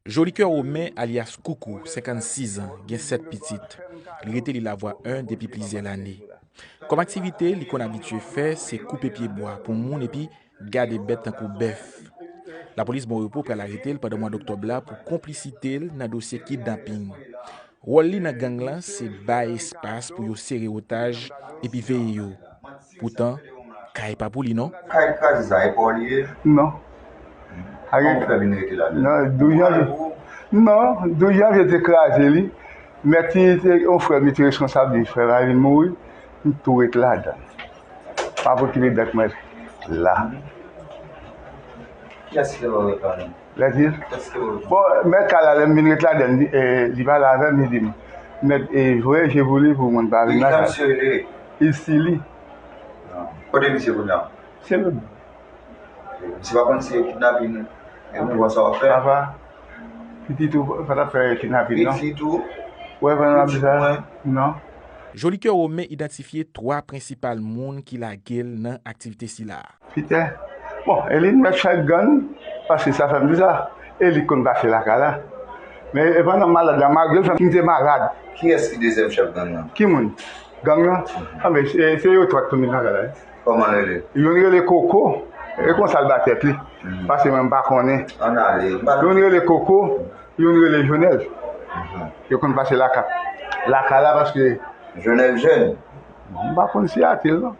Jolikè Romain alyas Koukou, 56 an, gen 7 pitit. Li rete Lilavwa 1 depi plizyè lane. Kòm aktivite li konn abitye fè se koupe pye bwa pou moun epi gade bèt tankou bèf. Lapolis Bon Repo pral arete l pandan mwad oktòb la pou konplisite l nan dosye kidnaping. Wòl li nan gang lan se bay espas pou yo sere otaj epi veye yo. Poutan kay pa pou li non. Kay kraze sa e pa w li ye? Non. Kòman ou fè vin rete ladan l? Yo pa l pou ou? Non. 12 janvye te kraze li. Mèt li te yon frè m li te reskonsab li. Frè m a vin mouri. M tou ret ladan l. M ap okipe bèt mwen la. Kiyès ki te ba w lòt ladan l? Lè di l, Bon, mèt kay la lè m vin ret ladan l, li pale avè m, li di m, Mèt, voye je pou li pou moun pa vin nan kay la. Ki jan misye rele? Isili. Kote misye kounye a? Se lòd bò. Misye pa konn se kidnapin mouvan sa w ap fè? Apa, pitit ou pa t ap fè kidnapin non. Pitit ou? Ou wè jan l ap di sa? Non. Jolikè Romain idantifye 3 prensipal moun ki lage l nan aktivite sila a. Pite. Bon, Eli t mèt fè gann, paske sa fè m di sa, Eli t konn pase lakay la. Men e pandan m malad la, malgre l fè m te malad. Kiyès ki dezyèm chèf gang nan? Ki moun? Gang nan? Anben, se yo twa k tounen lakay la wi. Kòman l rele? Youn rele Koko, e konsa l ba tèt li, paske mwen m pa konnen. Ann ale. Youn rele Koko, youn rele Jonèl. Yo konn pase lakay la paske. Jonèl jèn? M pa konn siyati l non.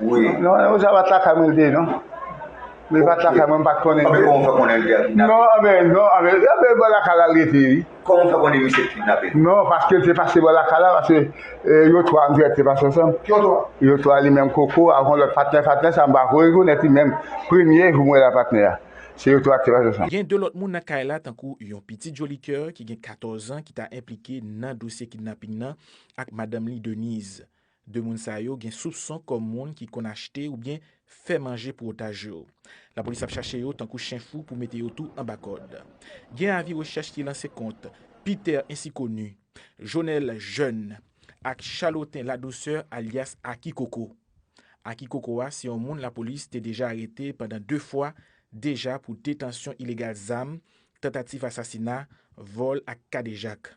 Wi. Non, yo sa bat lakay mwen de non. Mwen bat lakay mwen pat konnen. Anbe kòman fè konnen li te kidnape? Non, anbe non, anbe anbe bò lakay la li te wi. Kòman fè konnen misye te kidnape? Non, paske te pase bò lakay la paske yo 3 antrèt te pase ansanm. Yo 3? Yo 3 li menm koko ak yon lòt patnè, patnè sa mpa ko rekonèt li menm. Premye jou mwen wè la patnè a. Se yo 3 ki te pase ansanm. Gen 2 lòt moun nan kay la tankou yon pitit Jolicoeur ki gen 14 an ki ta enplike nan dosye kidnaping nan ak madanm li Denise. De moun sa yo gen soupson kòm moun ki konn achte oubyen fè manje pou otaj yo. Lapolis ap chache yo tankou chen fou pou mete yo tou anba kòd. Gen avi rechèch ki lanse kont Peter ensi koni, Jonel Jèn ak Chaloten Ladousè alyas Aki Koko. Aki Koko a se yon moun lapolis te deja arete pandan 2 fwa deja pou detansyon ilegal zam, tantativ asasina, vòl ak kadejak.